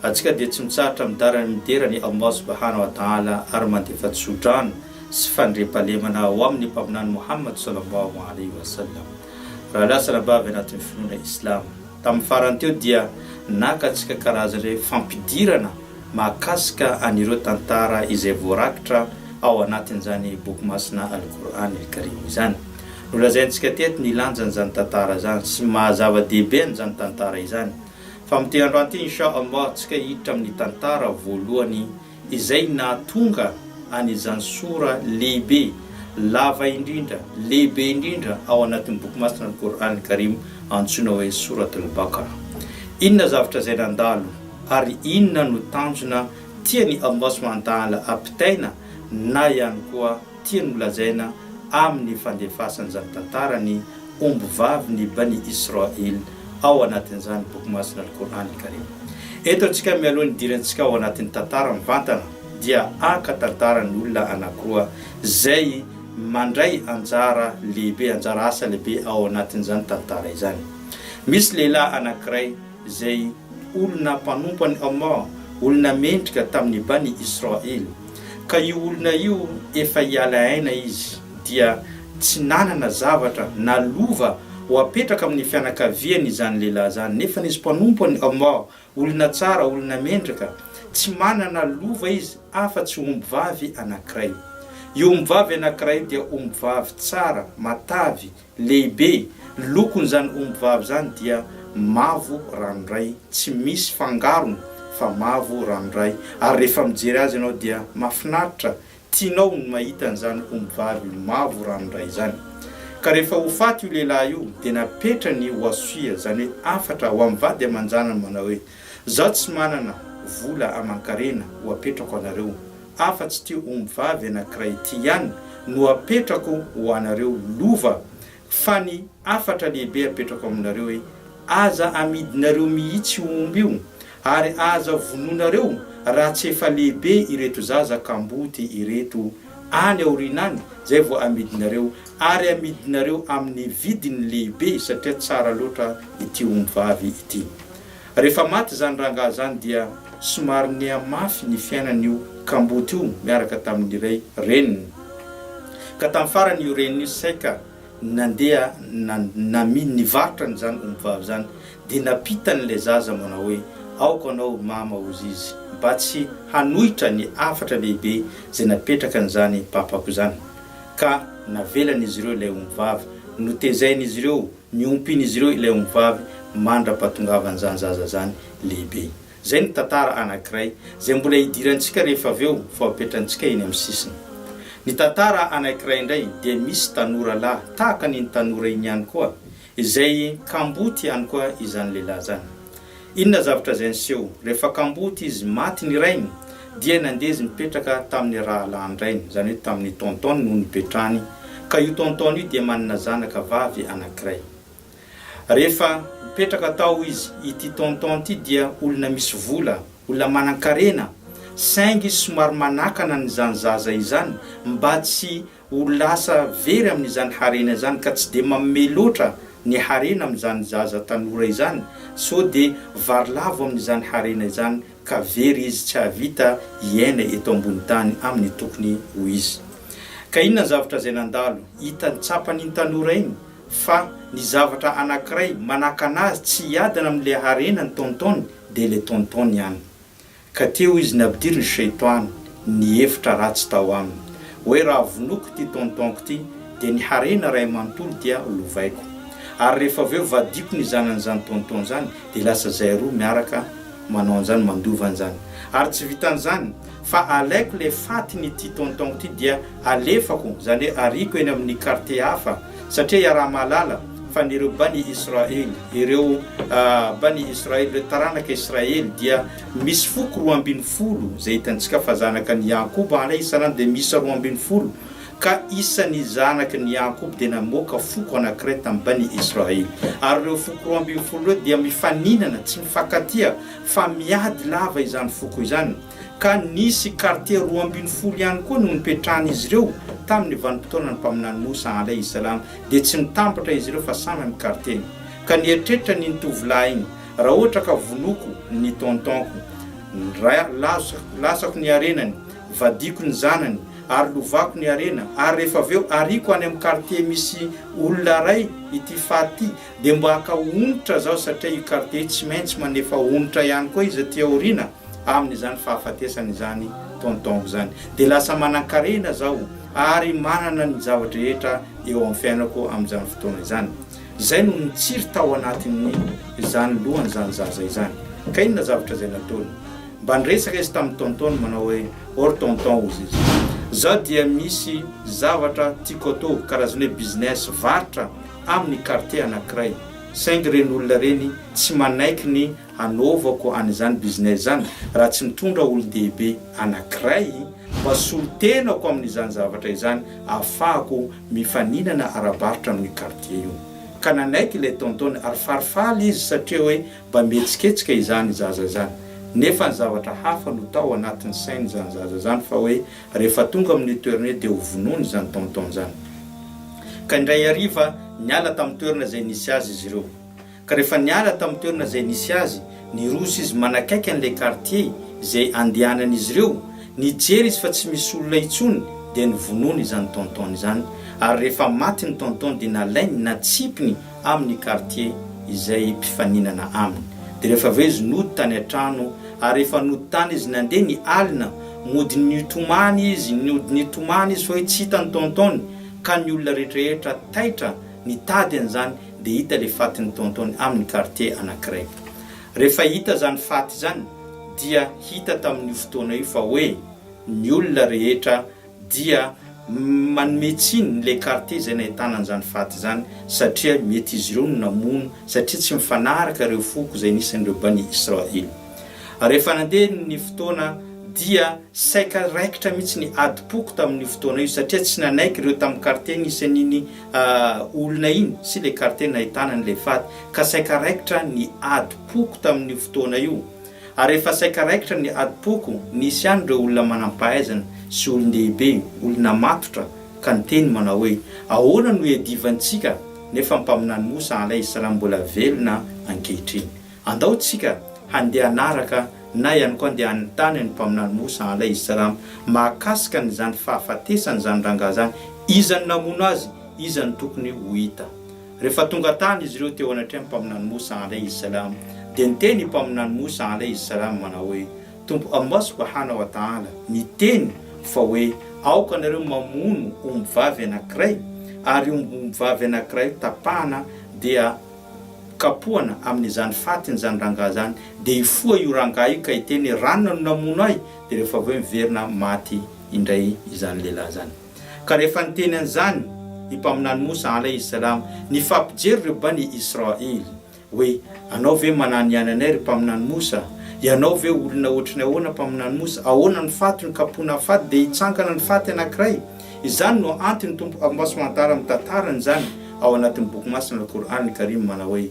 Antsika dia tsy mitsahatra midara ny midera ny Allah subahana wa ta'ala ary mandefa tsodrano sy fandriampahalemana ho amin'ny Mpaminany Mohamad salallahu alaihi wa sallam. Rahalahy sy anabavy anatin'ny finoana Islama. Tamin'ny farany teo dia naka antsika karazana fampidirana mahakasika an'ireo tantara izay voarakitra ao anatin'izany Boky Masina Al-Qur'an Al-Karim izany. Nolazaintsika teto ny lanjan'izany tantara izany sy ny maha zava-dehibe an'izany tantara izany. Fa amin'ity andro ity Insha Allah tsika hiditra amin'ny tantara voalohany izay nahatonga an'izany Sora lehibe, lava indrindra, lehibe indrindra ao anatin'ny Boky Masina Al Qur'an Al Karim antsoina hoe Surat Al Baqarah. Inona zavatra izay nandalo ary inona no tanjona tian'i Allah Subhanahu wa Ta'ala ampitaina na ihany koa tiany holazaina amin'ny fandefasan'izany tantara ny ombivavin'ny Bani Isra'il ao anatin'izany Boky Masina Al-Qur'an Al-Karim. Eto antsika mialoha ny idirantsika ao anatin'ny tantara mivantana dia haka tantaran'ny olona anankiroa izay mandray anjara lehibe, anjara asa lehibe ao anatin'izany tantara izany. Misy lehilahy anankiray. izay olona mpanompo an'i Allah, olona mendrika tamin'ny Bani Israil, ka io olona io efa hiala aina izy, dia tsy nanana zavatra na lova ho apetraka amin'ny fianakaviany izany lehilahy izany, nefany izy mpanompo an'i Allah, olona tsara, olona mendrika, tsy manana lova izy afa-tsy ombivavy anankiray. Io ombivavy anankiray dia ombivavy tsara, matavy, Lehibe, lokon'izany omby vavy izany dia mavo ranoray, tsy misy fangarony fa mavo ranoray, ary rehefa mijery azy ianao dia mahafinaritra, tianao ny mahita an'izany omby vavy mavo ranoray izany. Ka rehefa ho faty io lehilahy io dia napetrany oasoia, izany hoe hafatra, ho amin'ny vady aman-janany manao hoe. Zaho tsy manana vola aman-karena ho apetrako anareo afa tsy ity omby vavy anankiray ity ihany no apetrako ho anareo lova fa ny hafatra lehibe apetrako aminareo hoe aza amidinareo mihitsy io omby io ary aza vonoinareo raha tsy efa lehibe ireto zaza kamboty ireto any aoriana any zay vao amidinareo ary amidinareo amin'ny vidiny lehibe satria tsara loatra ity omby vavy ity. Rehefa maty izany rangahy izany dia somary niha mafy ny fiainan'io kamboty io miaraka tamin'ny iray reniny. Ka tamin'ny farany io reniny io saika nandeha namin nivarotra an'izany ombivavy izany dia nampitany ilay zaza manao hoe aoka anao mama hozy izy mba tsy hanohitra ny hafatra lehibe izay napetrakan'izany papako izany. Ka navelan'izy ireo ilay ombivavy notezain'izy ireo Niompin'izy ireo ilay ombivavy mandra-pahatongavan'izany zaza izany lehibe. Izay ny tantara anankiray izay mbola hidirantsika rehefa avy eo vao apetrantsika eny amin'ny sisiny. Ny tantara anankiray indray dia misy tanora lahy tahaka an'iny tanora iny ihany koa izay kamboty ihany koa izany lehilahy izany. Inona zavatra izay niseho? Rehefa kamboty izy maty ny rainy, dia nandeha izy nipetraka tamin'ny rahalahin-drainy, izany hoe tamin'ny tonton-ny no nipetrahany, ka io tonton-ny io dia manana zanaka vavy anankiray. Rehefa nipetraka tao izy, ity tonton ity dia olona misy vola, olona manan-karena, saingy somary manakana an'izany zaza izany mba tsy ho lasa very amin'izany harena izany ka tsy dia manome loatra ny harena amin'izany zaza tanora izany sao dia varilavo amin'izany harena izany ka very izy tsy hahavita hiaina eto ambony tany amin'ny tokony ho izy. Ka inona ny zavatra izay nandalo? Hitany, tsapany iny tanora iny fa ny zavatra anankiray manakana azy tsy hiadana amin'ilay harena ny tonton-ny dia ilay tonton-ny ihany. Ka teo izy nampidirin'i Shaytan ny hevitra ratsy tao aminy, hoe raha vonoiko ity tonton-ko ity, dia ny harena iray manontolo dia lovaiko. Ary rehefa avy eo vadiako ny zanan'izany tonton izany, dia lasa izahay roa miaraka manao an'izany, mandova an'izany. Ary tsy vitan'izany, fa alaiko ilay fatin'ity tonton-ko ity dia alefako, izany hoe ariako eny amin'ny quartier hafa, Satria iaraha-mahalala fa ny ireo Bani Israël, ireo Bani Israël, ireo taranaka Israël dia misy foko roa ambin'ny folo, izay hitantsika fa zanaka an'i Yaakoub alayh is-salam dia miisa roa ambin'ny folo, ka isan'ny zanaky ny Yaakoub dia namoaka foko anankiray tamin'ny Bani Israël. Ary ireo foko roa ambin'ny folo ireo dia mifaninana, tsy mifankatia, fa miady lava izany foko izany. ka nisy kartie roa ambin'ny folo ihany koa no nipetrahan'izy ireo tamin'ny vanim-potoanan'ny mpaminany Mosa alaihi salam, dia tsy nitambatra izy ireo fa samy amin'ny kartieny. Ka nieritreritra ny ny tovolahy iny, Raha ohatra ka vonoiko ny tonton-ko, ra, lazo, latsako ny harenany, vadiako ny zanany, ary lovako ny harena, ary rehefa avy eo ariako any amin'ny kartie misy olona ray ity faty, Dia mba haka onitra zaho satria io quartier io tsy maintsy manefa onitra ihany koa izy aty aoriana amin'izany fahafatesana izany tonton izany. Dia lasa manankarena zaho ary manana ny zava-drehetra eo amin'ny fiainako amin'izany fotoana izany. Izay no nitsiry tao anatin'ny izany lohan'izany zaza izany. Ka inona zavatra izay nataony? Mba niresaka izy tamin'ny tonton-ny manao hoe or tonton hozy izy. Zaho dia misy zavatra tiako atao karazana hoe business, varotra, amin'ny quartier anankiray, saingy ireny olona ireny tsy manaiky ny hanaovako an'izany business izany raha tsy mitondra olon-dehibe anankiray ho asolon-tenako amin'izany zavatra izany ahafahako mifaninana ara-barotra amin'io quartier io. Ka nanaiky ilay tonton-ny ary farifaly izy satria hoe mba mihetsiketsika izany zaza izany. Nefa ny zavatra hafa no tao anatin'ny sain'izany zaza izany fa hoe Rehefa tonga amin'io toerana io dia ho vonoina izany tom-tom izany. Ka indray hariva niala tamin'ny toerana izay nisy azy izy ireo. Ka rehefa niala tamin'ny toerana izay nisy azy, niroso izy manakaiky an'ilay kartie izay andehanan'izy ireo, nijery izy fa tsy misy olona intsony dia novonoiny izany tom-tom izany, ary rehefa maty ny tom-tom dia nalainy, natsipiny, amin'ny quartier izay mpifaninana aminy. Dia rehefa avy eo izy nody tany an-trano ary rehefa nody tany izy nandeha ny alina, mody nitomany izy, nody nitomany izy fa hoe tsy hita ny tonton-ny ka ny olona rehetrarehetra taitra nitady an'izany dia hita ilay fatin'ny tonton-ny amin'ny quartier anankiray. Rehefa hita izany faty izany dia hita tamin'io fotoana io fa hoe ny olona rehetra dia manome tsiny ilay quartier izay nahitana an'izany faty izany satria mety izy ireo no namono satria tsy mifanaraka ireo foko izay nisy an'ireo Bani Israil. Rehefa nandeha ny fotoana dia saika raikitra mihitsy ny adim-poko tamin'io fotoana io satria tsy nanaiky ireo tamin'ny quartier nisy an'iny olona iny sy ilay quartier nahitana an'ilay faty ka saika raikitra ny adim-poko tamin'io fotoana io. Ary efa saika raikitra ny adim-poko, nisy ihany ireo olona manam-pahaizana sy olon-dehibe, olona matotra, ka niteny manao hoe, Ahoana no iadivantsika nefa ny Mpaminany Mosa Alaih Salam mbola velona ankehitriny? Andao tsika handeha hanaraka na ihany koa andeha hanontany an'i Mpaminany Mosa Alaih Salam mahakasika an'izany fahafatesany izany rangahy izany, iza no namono azy, iza no tokony ho hita. Rehefa tonga tany izy ireo teo anatrehan'ny mpaminany Moussa alayhi salam, dia niteny i mpaminany Moussa alayhi salam manao hoe, Tompo Allah subhana wa ta'ala niteny fa hoe, Aoka ianareo mamono ombivavy anankiray, ary io ombivavy anankiray io tapahana dia kapohana amin'izany fatin'izany rangahy izany, dia hifoha io rangahy io ka hiteny hoe, Ranona no namono ahy, dia rehefa avy eo miverina maty indray izany lehilahy izany. Ka rehefa niteny an'izany i Mpaminany Mosa, Alaih Salam, nifampijery ireo Bani Israil, hoe, Anao ve manana ihany anay, ry Mpaminany Mosa? Ianao ve olona ohatry ny ahoana, Mpaminany Mosa? Ahoana ny faty no kapohina amin'ny faty dia hitsangana ny faty anankiray? Izany no antony Tompo Almbasoantala mitantara an'izany ao anatin'ny Boky Masina Al-Qur'an Al-Karim manao hoe,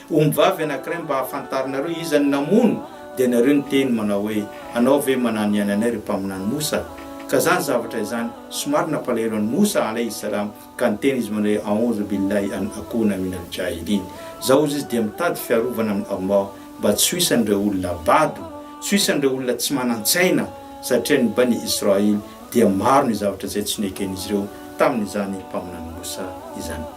Ombivavy anankiray mba hahafantarinareo iza no namono dia nareo niteny manao hoe anao ve manano ihany anay ry mpaminany Mosa? Ka zany zavatra izany somary nampalahelo an'i Mosa alaihi salaam ka niteny izy manao hoe A'oudhu billahi an akouna minal jahilin Zao ozy izy dia mitady fiarovana amin'i Allah mba tsy ho isan'ireo olona bado, tsy ho isan'ireo olona tsy manan-tsaina satria ny Bani Israil dia maro ny zavatra izay tsy neken'izy ireo tamin'izany mpaminany Mosa izany.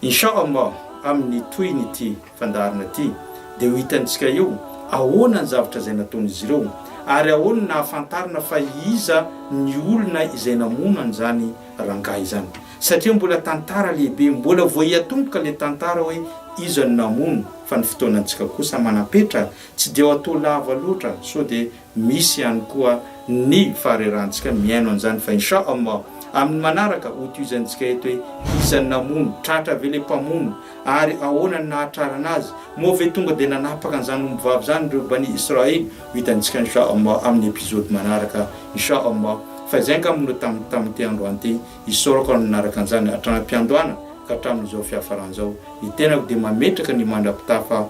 Insha Allah amin'ny tohin'ity fandaharana ity dia ho hitantsika eo ahoana ny zavatra izay nataon'izy ireo ary ahoana ny ahafantarana fa iza ny olona izay namono an'izany rangahy izany satria mbola tantara lehibe mbola vao hiatomboka ilay tantara hoe iza no namono fa ny fotoanantsika kosa manam-petra tsy dia ao atao lava loatra sao dia Misy ihany koa ny faharerantsika mihaino an'izany fa Insha Allah amin'ny manaraka ho tohizantsika eto hoe iza no namono, tratra ve le mpamono ary ahoana no nahatrarana azy, moa ve tonga dia nanapaka an'izany ombivavy izany ireo Bani Israil, ho hitantsika Insha Allah amin'ny episode manaraka Insha Allah fa izay angamba no tam tamin'ity andro any ity, isaorako amin'ny nanaraka an'izany hatramin'ampiandohana ka hatramin'izao fiafarany izao, ny tenako dia mametraka ny mandrapitafa.